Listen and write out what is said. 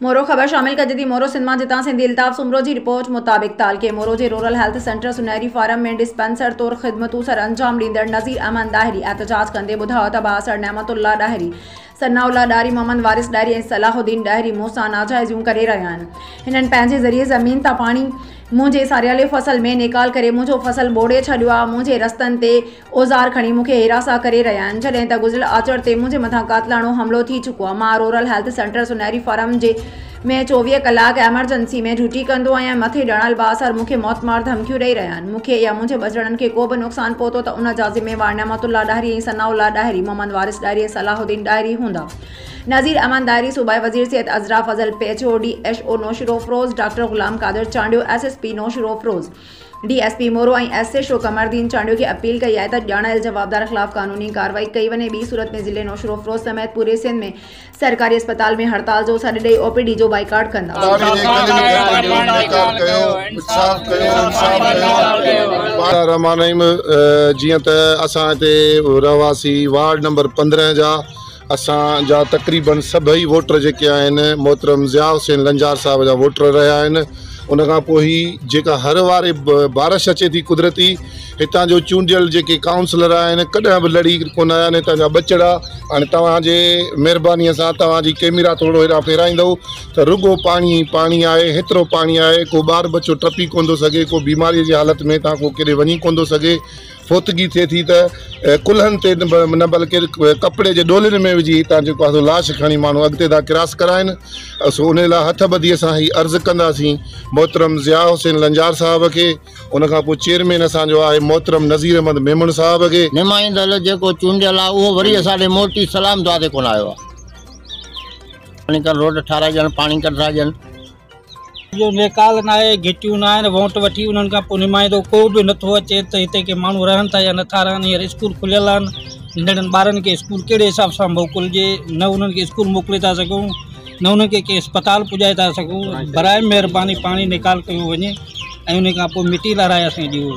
مورو، خبر شامل ڪجي ٿي مورو سنڌ مان جتان سنڌي الطاف سومرو جي رپورٽ مطابق تعلقي مورو جي رورل هيلٿ سينٽر سنهري فارم ۾ ڊسپينسر طور خدمتون سر انجام ڏيندڙ نظير احمد ڏاهري احتجاج ڪندي ٻڌايو ته بااثر نعمت الله ڏاهري، ثناء الله ڏاهري، محمد وارث ڏاهري ۽ صلاح الدين ڏاهري مون سان ناجائزيون ڪري رهيا آهن. هنن پنهنجي ذريعي زمين تان پاڻي منهنجي ساريالي فصل ۾ نيڪال ڪري منهنجو فصل ٻوڙي ڇڏيو آهي، منهنجي رستن تي اوزار کڻي مون کي هراسان ڪري رهيا آهن جڏهن ته گذريل آچر تي منهنجي مٿان قاتلاڻو حملو ٿي چڪو آهي مان رورل هيلٿ سينٽر سونهري فارم جي ۾ چوويهه ڪلاڪ ايمرجنسي ۾ ڊيوٽي ڪندو آهيان مٿي ڏنل بااثر مون کي موت مار ڌمڪيون ڏئي رهيا آهن مون کي يا منهنجي ٻچڙن کي ڪو به نقصان پهتو ته ان جا ذميوار نعمت الله ڏاهري ۽ ثناء الله ڏاهري محمد وارث ڏاهري ۽ صلاح الدين ڏاهري هوندا نذير احمد ڏاهري صوبائي وزير Syed Azra Fazal P H O D H O Naushahro Feroze doctor Ghulam Qadir Chandio S S P Naushahro Feroze D S P Moro ۽ S H O Qamardin Chandio کي اپيل ڪئي آهي ته ڄاڻايل جوابدارن خلاف قانوني ڪارروائي ڪئي وڃي ٻي صورت ۾ ضلعي نوشهروفروز سميت پوري سنڌ ۾ سرڪاري اسپتال ۾ هڙتال جو سڏ ڏئي او پي ڊي جو بائيڪاٽ ڪندا. اداري جي ڪنهن به ڪرتي جو انڪار ڪيو انصاف ڪيو انصاف ڪيو بار. الرحمان الرحيم جيئن ته اسان هتي رهواسي وارڊ نمبر پندرهن جا اسان جا تقريباً سڀئي ووٽر جيڪي آهن محترم ضياء حسين لنجار صاحب جا ووٽر رهيا آهن ان کان پوء هي جيڪا هر واري بارش اچي ٿي قدرتي هتان جو چونڊيل جيڪي ڪائونسلر آهن ڪڏهن به لڙي ڪونه آيا آهن هتان جا ٻچڙا هاڻي توهانجي مهربانيء سان توهانجي ڪيميرا ٿورو هيڏانهن ڦيرائيندو ته رڳو پاڻي ئي پاڻي آهي هيترو پاڻي آهي ڪو ٻار ٻچو ٽپي ڪونه ٿو سگهي ڪو بيماريء جي حالت ۾ هتان ڪو ڪيڏي وڃي ڪونه ٿو سگهي فوتگي ٿئي ٿي ته ڪلهن تي نه بلڪه ڪپڙي جي ڏولين ۾ وجهي هتان جيڪو آهي سو لاش کڻي ماڻهو اڳتي ٿا ڪراس ڪرائن سو ان لاء هٿ ٻڌي سان هي عرض ڪنداسين محترم ضياء حسين لنجار صاحب کي ان کان پوء چيئرمين اسان جو آهي محترم نظير احمد ميمڻ صاحب کي. نمائندل جيڪو چونڊيل آهي اهو وري اسان ڏي موٽي سلام دعا تي ڪونه آيو آهي. پاڻيڪر روڊ ٺاهرائجڻ پاڻيڪر ٿا ڏين. اهو نيڪال ناهي، گهٽيون ناهن، ووٽ وٺي انهن کان پوء نمائندو ڪو به نٿو اچي ته هتي ڪي ماڻهو رهن ٿا يا نٿا رهن، هينئر اسڪول کليل آهن، ننڍڙن ٻارن کي اسڪول ڪهڙي حساب سان موڪلجي، نه انهن کي اسڪول موڪلي ٿا سگهون، نه انهن کي ڪنهن اسپتال پڄائي ٿا سگهون، براء مهرباني پاڻي نيڪال ڪيو وڃي ۽ انهي کان پوء مٽي لارائي اسان کي ڏيو.